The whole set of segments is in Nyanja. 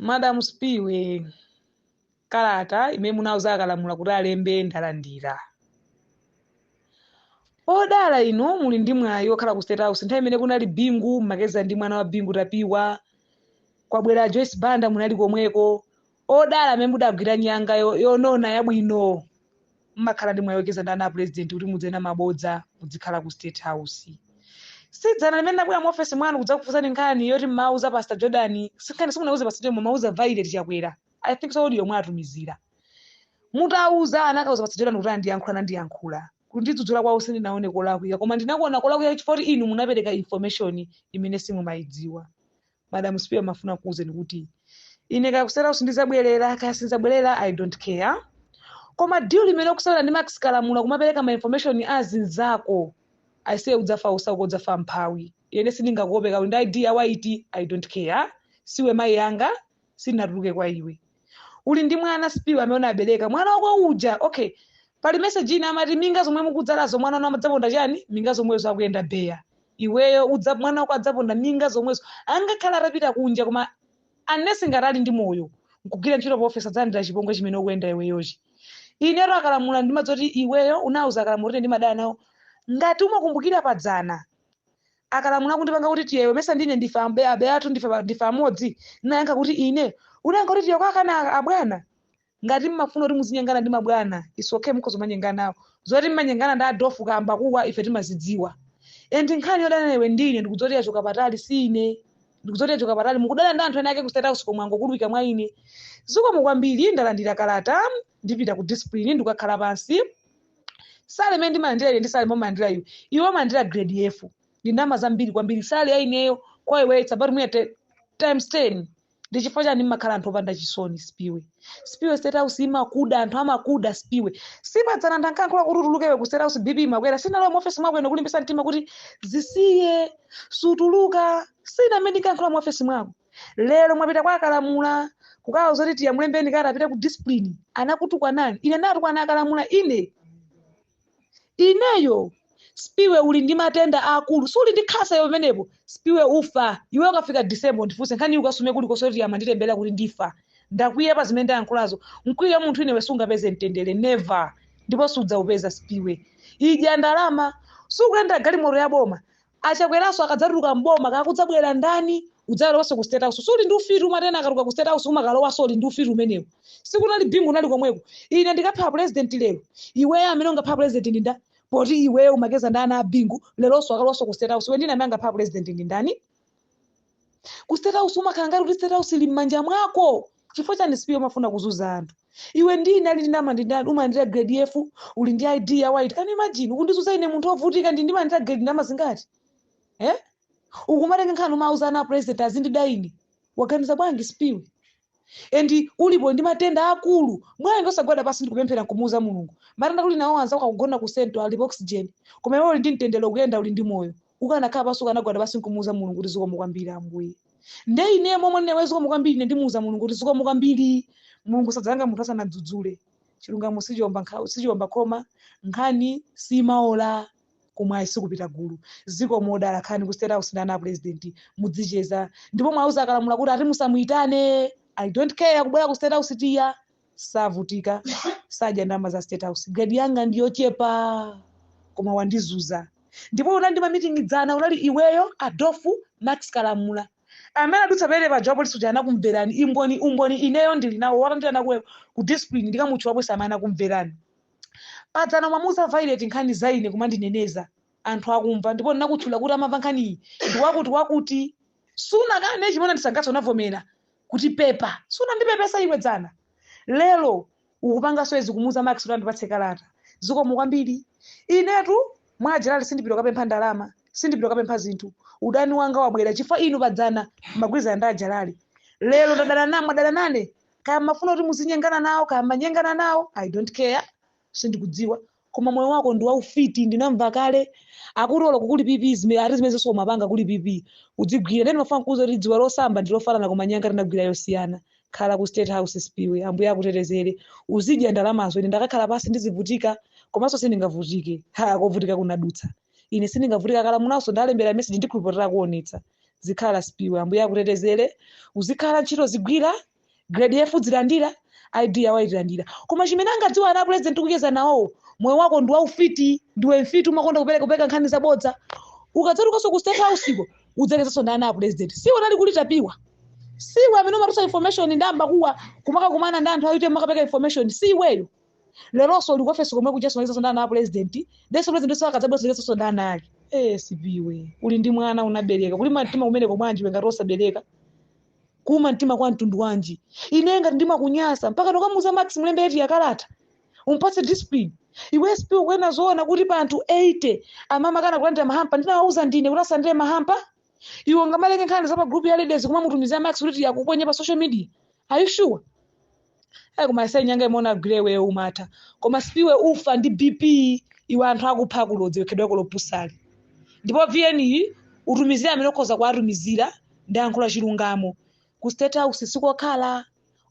madam spiwe kalata imene munauza akalamula kuti alembe ndalandira odala inu muli ndi mwayi okhala ku state house nthawi imene kunali bingu mmacheza ndi mwana wa bingu tapiwa kwabwera joyce banda munali komweko Odala amene mudagwira nyanga yo, yonona yabwino. Mmakhala ndi mwayi ocheza ndi ana a President kuti mudzenena mabodza mudzikhala ku State House. Si dzana limene ndinabwera mu office mwanu kudzakufunsani nkhani yoti mmawuza Pastor Jordan, si nkhani simunawuze Pastor Jordan mumawuza Violet Chakwera. I think so audio mwatumizira. Mutawuza anakawuza Pastor Jordan kuti andiyankhule nandiyankhula. Kundidzudzula kwawo sindinaone kolakwika koma ndinakuona kolakwika chifukwa kuti inu munapereka information imene simumayidziwa. madam spiwe mafuna kuuzeni kuti ine kaya ukusewera sindizabwerera kaya sinzabwerera i don't care koma deal imene ukusewera ndi max kalamula kumapereka ma information azinzako aise udzafa osauka udzafa mphawi ine sindingakuope kaya uli ndi id ya white i don't care siwe mayi yanga sindinatuluke kwa iwe uli ndi mwana spiwe amene unabereka mwana wako uja okay pali message ina amati minga zomwe mukudzalazo mwana wanu amadzaponda chani minga zomwezo akuyenda beya iweyo udza mwana wako adzaponda minga zomwezo angakhale atapita kunja koma unless ngati ali ndi moyo nkugwira ntchito pa office adzalandira chipongwe chimene ukuyenda iweyochi inetu akalamula ndimadziwa kuti iweyo unauza akalamula kuti ndimadana nawo ngati umakumbukira padzana akalamula kundipanga kuti tiye iwe mesa ndine ndife ambe- abe athu ndife ba- ndife amodzi ndinayankha kuti ine unayankha kuti tiye kwakana a- abwana ngati mmafuna kuti muzinyengana ndi mabwana it's okay mukhoza kumanyengana nawo zoti mmanyengana ndi adofu kamba kuwa ife timazidziwa and nkhani yodana iwe ndi ine ndikudziwa kuti yachoka patali si ine ndikudziwa kuti yachoka patali mukudana ndi anthu ena ake ku state house komwe angokoloweka mwa ine zikomo kwambiri ndalandira kalata ndipita ku discipline ndikukakhala pansi salary imene ndimalandira ine ndi salary imene umalandira iwe iwe umalandira grade f ndi ndalama zambiri kwambiri salary ya ineyo kwa iwe it's about me te- times 10 ndi chifukwa chani mmakhala anthu opanda chisoni spiwe spiwe state house imakuda anthu amakuda spiwe si padzana ankayankhula kuti utuluke iwe ku state house bp imakwera sindinalowa mu office mwako ine kulimbitsa mtima kuti zisiye sutuluka si ine amene ndinkayankhula mu office mwako lero mwapita kwa akalamula kukawauza kuti tiye mulembeni kalata apite ku discipline anakutukwanani ine ndatukwana akalamula ine ineyo spiwe uli ndi matenda aakulu suli ndi khansa iwe pamenepo spiwe ufa iwe ukafika december ndifunse nkhani ukasume kulikonse kuti amanditemberera kuti ndifa ndakwiya pa zimene ndayankhulazo nkakwiya munthu ine iwe sungapeze mtendere never ndipo sudzaupeza spiwe idya ndalama sukuyendera galimoto ya boma A Chakweraso akadzatuluka m'boma kaya kudzabwera ndani? Udzakalowanso ku state house. Si uli ndi ufiti umati ena akatuluka ku state house umakalowanso uli ndi ufiti umenewo. Sikunali Bingu unali komweko. Ine ndikapha president lero. Iweyo amene ungapha president ndi nda? Poti iweyo umacheza ndi ana a Bingu, leronso akalowanso ku state house. Iwe ndine amene angapha president ndi ndani? ku state house umakhala ngati kuti state house ili m'manja mwako chifukwa chani spiwe umafuna kuzuza anthu iwe ndi ine ali ndi ndama ndi ndani umalandira grade f uli ndi id ya white can you imagine ukundizuza ine munthu ovutika ndi ndimalandira grade ndama zingati eh ukumatenga nkhani umauza ana a president azindida ine waganiza bwanji spiwe and ulipo ndi matenda akulu bwanji osagwada pasi ndikupemphera nkumuuza mulungu matenda uli nawo anzako akugona ku central ali pa oxygen koma iwe uli ndi mtendere ukuyenda uli ndi moyo ukanakhala pasi ukanagwada pasi nkumuuza mulungu kuti zikomo kwambiri ambuye nde ine momwe ndinewe zikomo kwambiri ine ndimuuza mulungu kuti zikomo kwambiri mulungu sadzalanga munthu asanadzudzule chilungamo sichiomba nkhawa sichiomba khoma nkhani simaola kumwayi sikupita gulu zikomo odala khalani ku state house ndi ana a president mudzicheza ndipo mwauza akalamula kuti ati musamuitane i don't care kubwera ku state house tiya savutika sadya ndama za state house grade yanga ndiyochepa koma wandizuza ndipo unali ndi mamitingi dzana unali iweyo adofu max kalamula amene adutsa pamene pa job lisuja anakumverani imboni umboni ineyo ndili nawo walandira nakuwe ku discipline ndikamutchula bwesa amene anakumverani padzana mwamuuza violet nkhani za ine kumandineneza anthu akumva ndipo ndinakutchula kuti amamva nkhaniyi ndi wakuti wakuti sunakane chimene ndisangatso unavomera kuti pepa sunandipepesa iwe dzana lero ukupanganso izi kumuuza max kuti andipatse kalata zikomo kwambiri inetu mwa ajerali sindipita kapempha ndalama sindipita kapempha zinthu udani wanga wabwera chifukwa inu padzana magwirizana ndi ajerali lero ndadana namwe adana nane kaya mafuna kuti muzinyengana nawo kaya manyengana nawo i don't care sindikudziwa koma moyo wako ndi waufiti ndinamva kale akuti olo kukuli pp zime- ati zimene zonse umapanga kuli pp udzigwira nde ndimafuna kuuza kuti dziwe losamba ndi lofanana koma nyanga tinagwira yosiyana khala ku state house spiwe ambuye akutetezere uzidya ndalamazo ine ndakakhala pasi ndizivutika komanso sindingavutike ha kovutika kunadutsa ine sindingavutike a kalamulanso ndalembera message ndikhulupirira akuonetsa zikhala spiwe ambuye akutetezere uzikhala ntchito uzigwira grade f udzilandira id ya white ulandira koma chimene angadziwa ana apulezidenti ukucheza nawowo moyo wako ndi waufiti ndiwe mfiti umakonda kupereka kupereka nkhani zabodza ukadzatukanso ku state house ko udzachezanso ndi ana apulezidenti siwe unali kuli tapiwa siwe amene umatusa information ndi ambakuwa kumakakumana ndi anthu aite makapereka information si iweyo leronso uli ku ofesi komwe kuja zimayesanso ndi ana a pulezidenti denso pulezidenti onse akadzabweranso yesanso ndi ana ake ee sipiwe uli ndi mwana unabereka kuli mtima kumeneko mwanji iwe ngati osabereka kuuma mtima kwa mtundu wanji ine ngati ndimakunyasa mpaka tokamuza max mlembe eti yakalata umpatse discipline iwe sipiwe ukuona zoona kuti pa anthu 80 amakana kulandira mahampa ndinawauza ndine kuti asalandire mahampa iwe ungamaleke nkhani za pa group ya ladies kumamutumizira max kuti eti akuponye pa social media are you sure ayi koma asayi nyanga imene wagwira iweyo umatha koma sipiwe ufa ndi bp iwe anthu akupha akulodza wekhedwako lopusali ndipo vn iyi utumizire amene ukhoza kuwatumizira ndi yankho la chilungamo ku state house sikokhala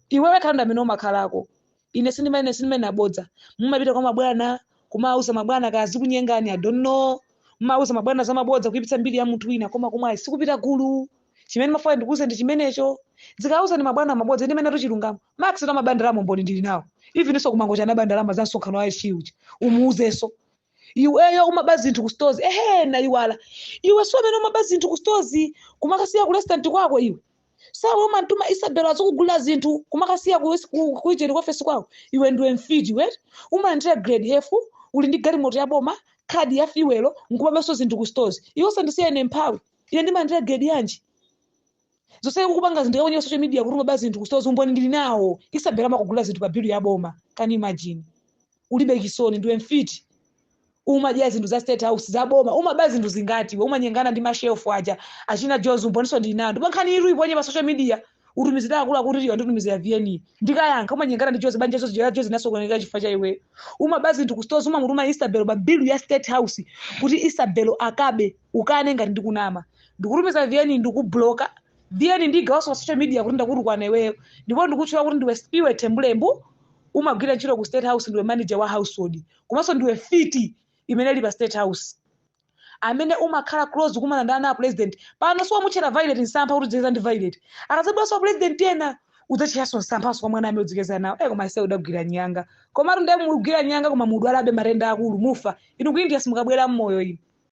iwe wekha ndiwe amene umakhalako Ine sindimanena, sindimanena bodza. Mumapita kwa mabwana, kumawauza mabwana kaya zikunyengani, I don't know. Mumawauza mabwana za mabodza kuipitsa mbiri ya munthu wina, koma komwe ayi sikupita gulu. Chimene mafuna ndikuuze ndi chimenecho. Uzikauza mabwana mabodza, m'malo mwa chilungamo. Max nso amaba ndalama umboni ndili nawo. Even so kumangocha anaba ndalama za msonkhano wa SG uja. Umuuzenso. Iweyo umaba zinthu ku stores. Ehe, naiwala. Iwenso amene umaba zinthu ku stores kumakasiya ku restaurant kwako iwe. siwe umatuma isabelo azikugulira zinthu kumakasiya kuicheri ku ofesi kwako iwe ndiwe mfiti iwe eti umalandira grade f uli ndi galimoto ya boma khadi ya fiwelo nkumabenso zinthu ku stores iwe kusandisiya ine mphawi ine ndimalandira grade yanji zonsezi kukupanga zinthu kaonye social media kuti umaba zinthu ku stores umboni ndili nawo isabelo amakugulira zinthu pa bilu ya boma can you imagine ulibe chisoni ndiwe mfiti umadya zinthu za state house za boma umaba zinthu zingati iwe umanyengana ndi mashef aja achina jozi umboninso ndili nawo ndipo nkhaniyi uiponye pa social media utumizira akuluakulu kuti wanditumizira vn ndikayankha umanyengana ndi jozi banja la jozi linasokonekera chifukwa cha iweyo umaba zinthu ku stores umamutuma isabel pa bill ya state house kuti isabel akabe ukane ngati ndikunama ndikutumiza vn ndikubloka vn ndigawanso pa social media kuti ndakutukwana iweyo ndipo ndikutchula kuti ndiwe spiwe tembulembu umagwira ntchito ku state house ndiwe manager wa household komanso ndiwe mfiti imene ili pa state house amene umakhala close kumene ndi ana a president pano so wamutchera violet nsampha kuti udzikeza ndi violet akadzabweranso a president ena udzatcheranso nsamphanso kwa mwana amene udzikeza nawo e koma iwe udagwira nyanga komatu ndiye mugwira nyanga koma mudwalabe matenda akulu mufa inu ku india simukabwera mmoyo inu